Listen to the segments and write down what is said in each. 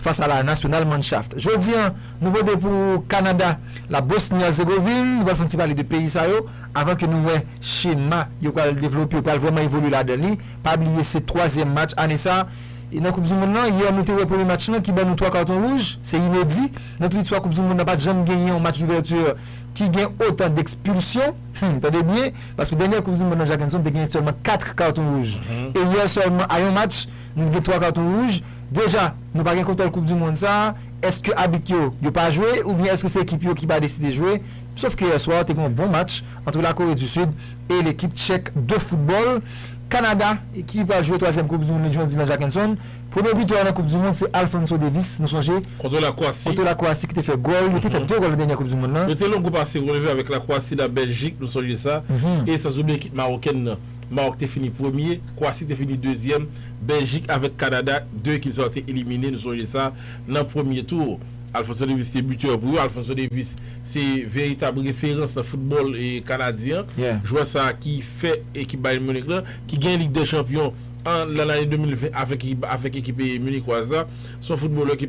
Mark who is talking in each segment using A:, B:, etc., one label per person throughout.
A: Fas a la Nationalmannschaft. Jodi an, nou pote pou ou Kanada, la Bosni-Herzegovin, nou pral fè yon ti pale de peyi sa yo, avan ke nou wè chema yo pral devlope, yo pral vrèman evolye ladan li. Pa bliye se twazyèm match ane sa e nan koup du mond lan. Yè nou te wè premye match lan ki ban nou twa karton wouj, se inedi. Nan tout listwa koup du mond lan pat janm genyen yon match d'ouverture ki gen otan d'expulsion. Hum, tande byen, paske dènyè koup du mond lan Jackenson te genyen sèlman 4 karton wouj e yè sèlman a yon match, Nou gen 3 katon wouj, deja nou pa gen kontwòl koup du mond sa, eske abit yo, yo pa jwe oubyen eske se ekip yo ki pa deside jwe, sof ke yè swa te gen yon bon match antre la Kore du Sud e lekip tchèk de foutbòl, Kanada ki pral jwe twazyèm koup du mond li jwen dimanch a Kenson, premye bitè yo nan koup du mond se Alphonso Davies nou sonje Kontre la Kwasi. Kontre
B: la Kwasi ki te fè
A: gòl, yo te fè 2 gòl nan dènyè koup du mond lan. Yo te longo pase relev
B: avèk la Kwasi, la Bèljik nou sonje sa e sans oubliye ekip Mawokèn nan. Mawòk te fini premye, Kwasi te fini dezyèm, Bèljik avèk Kanada, 2 ekip sa yo te elimine, nou sonje sa, nan premye tou. Alfonso Davies te bitè pou yo. Alfonso Davies se veritab referans nan foutbòl kanadyen an. Jwè sa a ki fè ekip Bayern Munich lan, ki gen Lig dè Chanpyon an nan lane 2020 avèk ekip munikwaz la, se yon foutbolè ki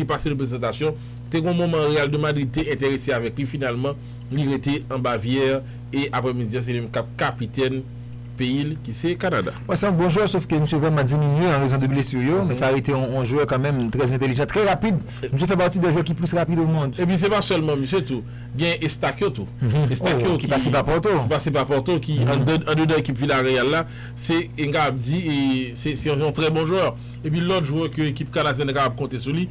B: pase reprezantasyon. Te gen yon moman Real de Madrid te enterese avèk li finalman. Li rete an Bavière e aprè midi an se li menm kap kapitèn peyi l ki se Kanada. Wi se yon bon jwè sof ke
A: misye vrèman diminye an rezon de blessure yo men sa rete yon jwè kanmenm trè entelijan, trè rapid, misye fè pati de jwè ki plis rapid o mond. Epi se pa sèlman misye
B: tou, gen Estakyo tou, Estakyo ki pase
A: pa Porto, ki pase pa Porto ki
B: andedan ekip Villareal la, se nou kapab di se yon trè bon jwè, epi lòt jwè ke ekip Kanadyèn nan kapab konte sou li.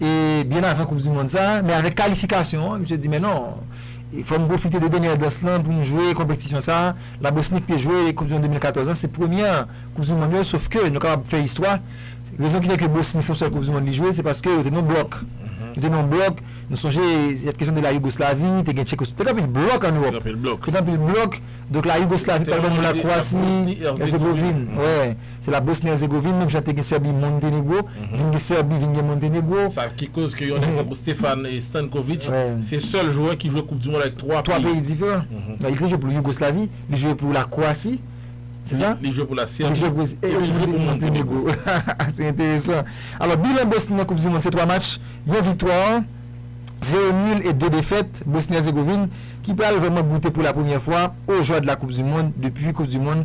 A: e byen avan koup di mond sa, men avèk kalifikasyon an misye di men non e fòm pwofite de dènyè dans lan poum jwe konpetisyon sa, la Bosni ki te jwe koup di mond 2014 lan se premyè koup di mond yo sof ke nou kapab fè istwa rezon ki fè ke Bosni se yon sèl koup di mond li jwe se paske yo te nan yon blòk yo te nan yon blòk nou sonje sèt kesyon de la Yougoslavi te gen Tchekos te gen anpil blòk an Ewòp te gen anpil blòk donk la Yougoslavi te gen la Bosni Erzegovin wè. Se la Bosni Erzegovin menm jan te gen Sèbi Montenegro vin gen Sèbi vin gen Montenegro. Sa ki koz ke yon
B: nèg tankou Stefan Stankovic se sèl jwè ki jwe koup di mond avèk 3 peyi. 3 peyi diferan.
A: Li te jwe pou Yougoslavi, li jwe pou la Kwasi, se sa? Li jwe pou la Sèbi,
B: epi li jwe pou
A: Montenegro. Se enteresan. Alò bilan Bosni nan koup di mond se 3 match, yon viktwa, 0 nul e 2 defèt. Bosni Erzegovin ki pral vrèman goute pou la premyè fwa au joie de la coupe du monde depi koup di mond.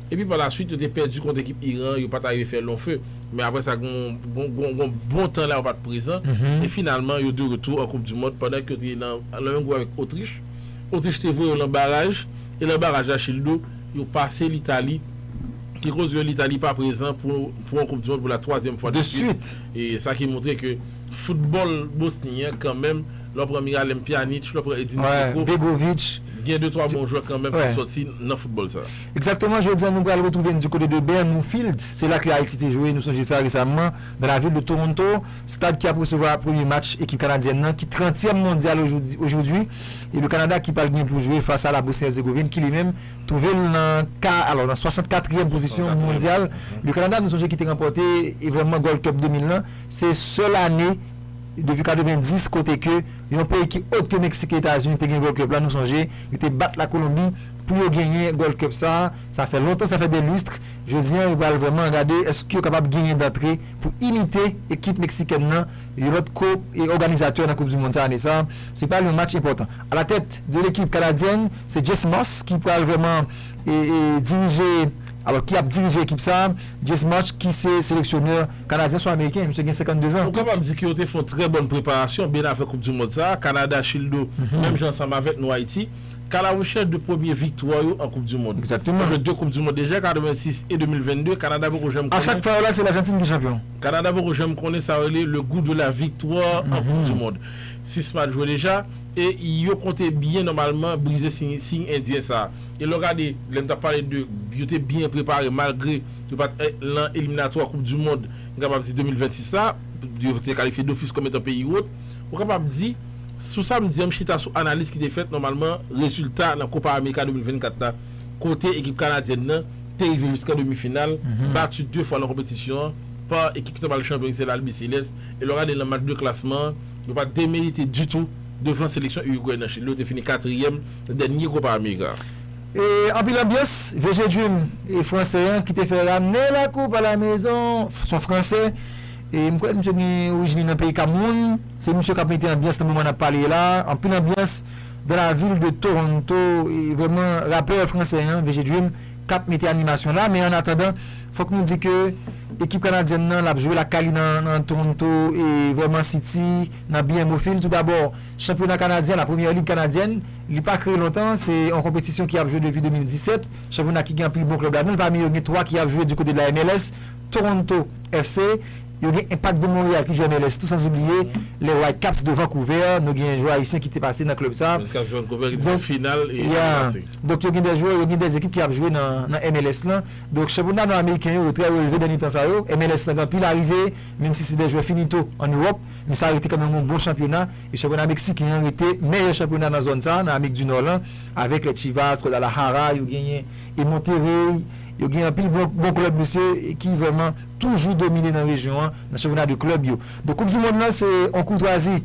B: Epi pa la swit yo te pèdi kont ekip Iran an, yo pat arive fè lon few, men aprè sa gen yon bon tan la yo pat prezan, e finalman yo de retou an koup di mond pandan ke yo te nan menm gwoup avèk Otrich, Otrich te voye yo lan baraj, e lan baraj la Childo yo pase Litali ki koz ke Litali pa prezan pou yon koup di mond pou la twazyèm fwa de swit, e
A: sa ki montre
B: ke foutbòl Bosni an kan menm lè w pran Miralem Pjanic, lè w pran Edin Dzeko gen
A: de twa bon
B: jwè kan menm ki sòti nan foutbòl sa. Exactement, jodi an nou
A: pral retrouve n du côté de Bernoufield, se la ke Ayiti te jwe, nou sonje sa, resamman, dans la ville de Toronto, stad ki ap resevwa premye match ekip kanadyèn nan ki trantyèm mondyal aujourd'hui e le Canada ki pral gen pou jwe fas a la Bosnie-Herzegovine ki li menm trouve l nan ka alò nan 64 yèm pozisyon mondyal le Canada nou sonje ki te ranpòte evenman Gold Cup 2000 lan se sèl ane depi 90 kote ke yon peyi ki ot ke Mexique e Etazini te gen Gold Cup la nou sonje yo te bat la Colombie Pou yo genyen Gold Cup sa, sa fè lontan, sa fè des lustres, jodi an yo pral vrèman gade èske yo kapab genyen dantre pou imite ekip meksikèn nan, yon lòt ko òganizatè nan koup du mond sa ane sa. Se pral yon match enpòtan. A la tèt de lekip kanadyèn, se Jess Marsch ki pral vrèman dirije, alò ki ap dirije ekip sa, Jess Marsch ki se seleksyonè kanadyen, swa ameriken, misye gen 52 zan. Nou kapab di ke yo te fè yon
B: trè bòn preparasyon byen avan koup du mond sa, Kanada, Childo, menm jan ansanm avèk nou Ayiti. Kalawouchè 2 premye viktwa yo an koup du mond. Exactement. Yo jwe 2 koup du mond
A: deja, 86
B: e 2022, Kanada poko janm konnen. A chak fwa yo la se Lajantin
A: ki chanpyon. Kanada poko janm konnen
B: sa yo rele le goût de la victoire an koup du mond. 6 match jwe deja e yo konte byen nòmalman brize siy endyen sa. E lè w gade, lè m tap pale de yo te byen prepare malgre yo pat lan eliminatwa koup du mond m kapab di 2026 la, yo te kalifye dofis kòm etan peyi wot, ou kapab di. Sou sa m di an m chita sou analiz ki te fèt nòmalman rezilta nan Copa America 2024 la kote ekip kanadyèn nan te rive jiskan demi final bati 2 fwa nan konpetisyon an pa ekip ki ta pral chanpyon ki se L'Albiceleste e lè w gade nan mat de klasman an yo pa demerite ditou devan seleksyon Uruguay nan Chili yo te fini katriyèm nan dènye Copa America. E anpil
A: anbyans Vieux G-Dream e fransè an ki te fè ramne la coupe à la maison son fransè e m kwè misye gen orijin li nan peyi Cameroun. Se misye kap mete anbyans nan moman nap pale la, anpil anbyans dans la ville de Toronto e vrèman rapè fransè an VG Dream kap mete animasyon la men an atandan fòk nou di ke ekip kanadyèn nan lap jwe lakay li nan Toronto e vrèman City nan BMO Field tou dabò chanpyona kanadyen la première ligue kanadyèn li pa kreye lontan se yon konpetisyon ki ap jwe depi 2017 chanpyona ki gen anpil bon klèb ladan l pami yo gen 3 ki ap jwe di kote de la MLS Toronto FC Yo gen Impact de Montréal ki jwe an MLS tou san oubliye les Whitecaps de Vancouver, nou gen jwè ayisyen ki te pase nan klèb sa. Whitecaps de Vancouver ki te fè final
B: ane pase. Donk yo gen de
A: jwè, yo gen de ekip ki ap jwe nan MLS lan. Donk chanpyona nò ameriken yo, yo trè relve dènye tan sa yo. MLS lan gen anpil arive, menm si se de jwè finito an Ewòp, men sa rete kanmenm yon bon chanpyona. E chanpyona meksiken an rete meyè chanpyona nan zòn sa, nan Amerik di Nò lan, avèk les Chivas, Guadalajara, yo genyen e Monterrey, yo gen anpil bon klèb mesye ki vrèman. toujou domine nan rejyon an nan chanpyona de klèb yo. Donk koup du mond lan se yon koutwazi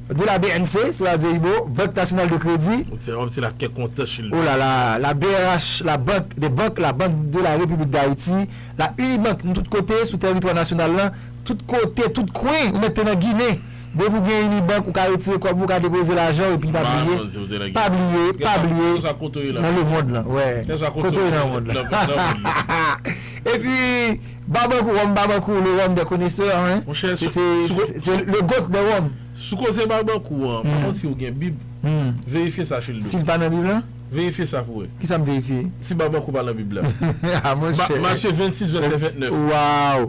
A: de la bnc, sou radyo Ibo, Banque Nationale de Crédit. Ou se wap di la kè
B: kontan chili. Oh la la, la
A: brh, la banque des banques, la banque de la République d'Haïti, la Unibank nou tout kote sou tèritwa nasyonal lan, tout kote, tout kwen, ou mèt te nan Ginen. Depi ou gen Unibank ou ka retire kòb ou ka depoze lajan ou epi pa bliye pa bliye pa bliye nan le mond lan wè kote ou ye nan mond lan hahaha epi Barbancourt rhum Barbancourt le rhum des connaisseurs hein se le goat des rhum. Sou koze Barbancourt
B: an pa konn si ou gen bib verifye sa Childo. Sil pa nan bib lan?
A: Verifye sa pou wè.
B: Kisa m verifye?
A: Si Barbancourt pa nan
B: bib la. Ah
A: monchè. Matye 26
B: vèsè 29. Waww.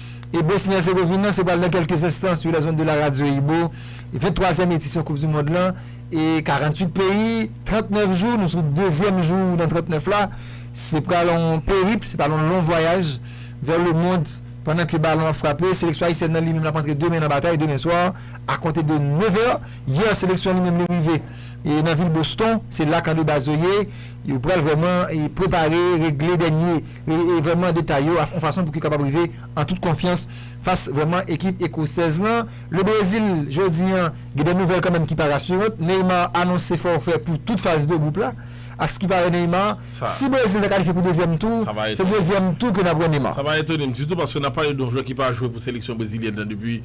A: E Bosni Ersegovin lan se pral nan kèlke enstan sou la zone de la Radio Ibo 20 twazyèm edisyon koup du mond lan e 48 peyi 39 jou nou sou dezyèm jou nan 39 la se pral on perip se pral on lon vwayaj vè le mond pandan ke balon ap frape seleksyon ayisyèn lan li menm lap antre demen nan batay demen swa a konte de 9 è yè seleksyon li menm li rive e nan vil Boston se la kan de baz yo ye yo pral vrèman prepare regle dènye. e vrèman detay yo a yon fason pou ki kapab rive an tout konfyans fas vrèman ekip ekosèz lan. Le Brezil jodi an gen de nouvèl kanmenm ki pa rasurant, Neymar anonse fòfè pou tout faz de gwoup la. A s ki pare Neymar, si Brezil ta kalifye pou dezyèm tou, se dezyèm tou ke n ap wè Neymar. Sa pa etone m ditou paske
B: n ap pale de yon jwè ki pa jwe pou seleksyon brezilyèn nan depi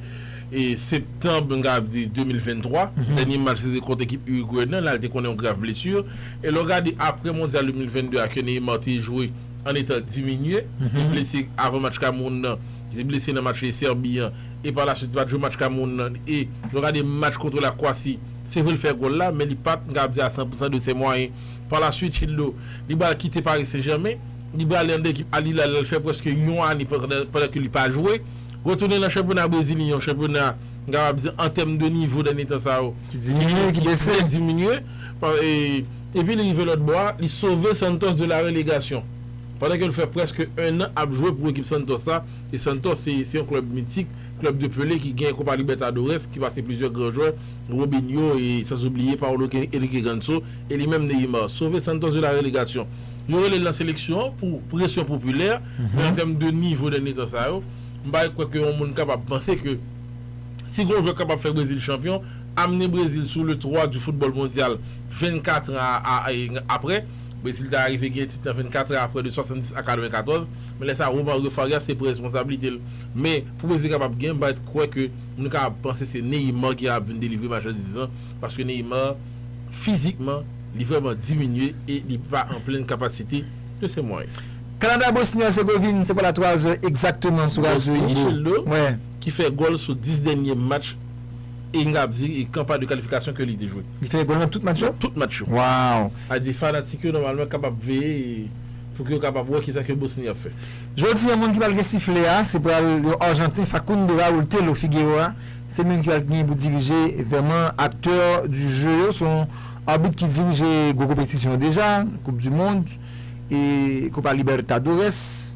B: septanb m kapab di 2023, dènye match li te kont ekip Urugwe nan, la li te konnen yon grav blesu. E lè w gade aprè Mondyal 2022 a ke Neymar te jwe an etan diminye, li te blese avan match Kamewoun nan, li te blese nan match Serbie an e pa la swit li pa t jwe match Kamewoun nan e lè w gade match kontre la Kwasi se vre li fè gòl la men li pa t m kapab di a 100 pousan de ses moyens. Pa la swit Childo li pral kite Paris Saint Germain, li pral ale anndan ekip Al Hilal la l fè prèske yon ane pandan ke li pa jwe, retounen nan chanpyona Brezilyen yon chanpyona m kapab di an tèm de nivo dènye tan sa yo ki diminye,
A: ki bese.
B: Epi li rive lòtbò a, li sove Santos de la relegasyon. Pandan ke l fè prèske 1 an ap jwe pou ekip Santos sa, e Santos se se yon klèb mitik, klèb de Pelé ki gen Copa Libertadores, ki pase plizyè gran jwè, Robinho e sanzobliye Paulo Henrique Ganso e li menm Neymar. Sove Santos de la relegasyon. Yo rele l nan seleksyon an pou presyon popilè, men an tèm de nivo dènye tan sa yo, m pa kwè ke yon moun kapab panse ke. Si gon jwè kapab fè Brezil chanpyon, amne Brezil sou le twa du football mondyal 24 tran a aprè. Brezil ta arive genyen tit lan 24 tran aprè de 70 a 94. Men lè sa Romario Farias se pran responsabilite l. Men pou Brezil kapab genyen, m pa ret kwè ke moun ka ap panse se Neymar ki ap vin delivre machandiz lan. Paske Neymar fizikman li vrèman diminye e li pa an plenn kapasite de se mwayen. Kanada Bosni
A: Erzegovin se pa la 3 zè egzakteman sou Radio Ibo. Bosni, Childo.
B: ki fè gòl sou 10 dènye match e n kab di e kanpay de kalifikasyon ke li te jwe. Li fè gòl nan tout match yo? Nan
A: tout match yo. Waww!
B: A di
A: fanatik
B: yo nòmalman kapab veye e pou ke yo kapab wè kisa ke Bosni ap fè. Jodi an moun ki
A: pral gen siflè a se pral yon arjanten Facundo Raul Telo Figueroa se menm ki pral genyen pou dirije vèman acteur du jeu yo se yon arbit ki dirije gwo konpetisyon deja koup du mond e Copa Libertadores.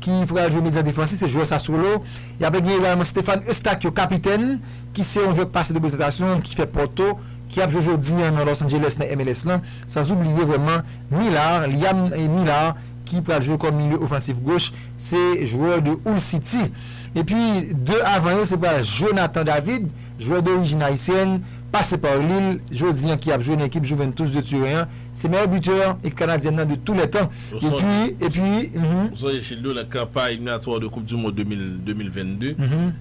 A: ki pral jwe medyan defansif, se jwè Sassuolo. Y ape gen egalman Stefan Eustáquio, kapitèn, ki se yon jwè k pase de prezantasyon, ki fè Porto, ki ap jwe jodi an nan Los Angeles nan MLS lan. Sanzoubliye vrèman Millar, Liam Millar, ki pral jwe kòm milye ofansif goch, se jwè de Hull City. Epi 2 avan yo se pral Jonathan David, jwè dorijin ayisyèn, pase par Lille, jodi an ki ap jwe nan ekip Juventus de Turen an. Se meyè bitè ekip kanadyèn nan de tou lè tan epi epi mph. Ou sonje Childo
B: nan kanpay eliminatwa de koup du mond 2022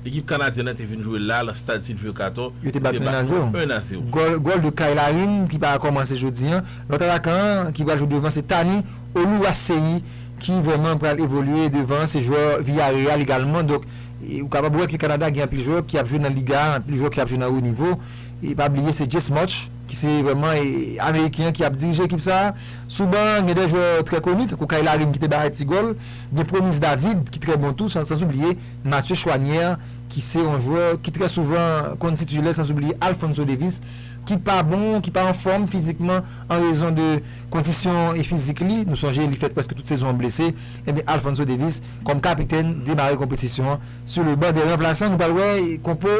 B: ekip kanadyèn nan te vin jwe la lan stad Sylvio Cator yo te bat nou 1 a 0 1 a 0. Gòl
A: gòl de Kyle Larin ki pa kòmanse jodi an. Lòt atakan an ki pral jwe devan se Thani Oluwaseyi ki vrèman pral evolye devan an se jwè Villarreal egalman donk ou kapab wè ke Kanada gen anpil jwè ki ap jwe nan liga a anpil jwè ki ap jwe nan wo nivo e pa bliye se Jess Marsch ki se vrèman ameriken an ki ap dirije ekip sa a. Sou ban an, gen de jwè trè koni tankou Kyle Larin ki te bay ti gòl, gen Promise David ki trè bon tou san sanzoubliye Mathieu Choinière ki se yon jwè ki trè souvan konn titilè sanzoubliye Alphonso Davies ki pa bon, ki pa anfòm fizikman an rezon de kondisyon fizik li. Nou sonje li fè prèske tout sezon an blese. Enben Alphonso Davies kòm kapitèn demare konpetisyon an sou le ban de ranplasan. Nou pral wè konpo.